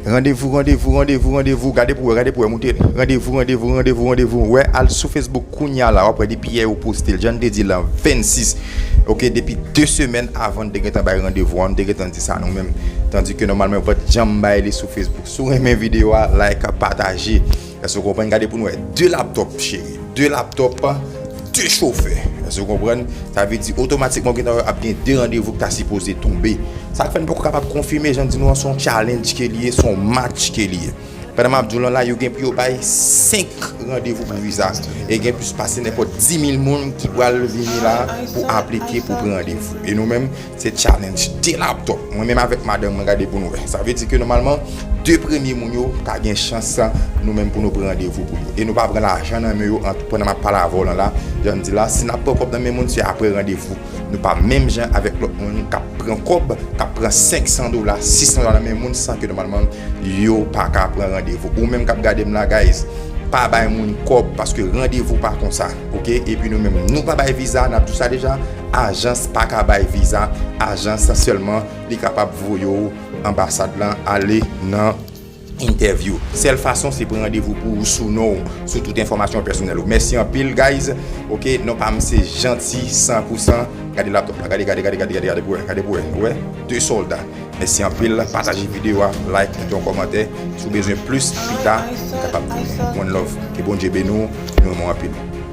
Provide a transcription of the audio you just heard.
Randevou randevou randevou randevou gade pou wè gade pou wè moute randevou randevou randevou randevou wè al sou Facebook kounya la wap wè depi yè yo postel jann te di lan 26 ok depi 2 semèn avan nou te gentan bay randevou an nou te gentan di sa nou menm tandike nòmalman yo pat janm bay li sou Facebook si w renmen video a like pataje. Èske ou konprann? Gade pou nou wè. 2 laptòp cheri. 2 laptòp, 2 chofè. Èske ou konprann? Sa vle di otomatikman ou gentan wè ap gen 2 randevou ki ta sipoze tonbe. Sa k fè n poko kapab konfime jan m di nou an s on challenge ke li ye, s on match ke li ye. Pandan m ap di w lan la yo gen pou yo bay 5 randevou pou viza e gen plis pase nenpòt 10 mil moun ki pral vini la pou aplike pou pran randevou. E nou menm Se challenge 2 laptop mwen menm avèk madanm mwen gade pou nou wè. Sa vle di ke nòmalman 2 premye moun yo pa gen chans nou menm pou nou pran randevou pou yo. E nou pa pran lajan nan men yo an pandan map pale avè w lan la. Jan m di la, si nap pran kòb nan men moun se aprè randevou. Nou pa menm jan avèk lòt moun kap pran kòb, kap pran 500 dola, 600 dola nan men moun san ke nòmalman yo pa ka pran randevou. Ou menm kap gade m la guys, pa bay moun kòb paske randevou pa konsa. Ok, epi nou menm nou pa bay viza, nap di w sa deja. Ajans pa ka bay viza ajans selman li kapab voye w anbasad lan ale nan entèvyou sèl fason se pran randevou pou ou sou non w sou tout enfòmasyon pèsonèl ou mèsi anpil guys ok non pa m se janti san pou san gade laptop la gade gade gade gade gade pou wè gade pou wè nou wè 2 solda mèsi anpil pataje video a like kite yon kòmantè si w bezwen plis pita m kapab tounen one love ke Bondye beni w nou renmen w anpil.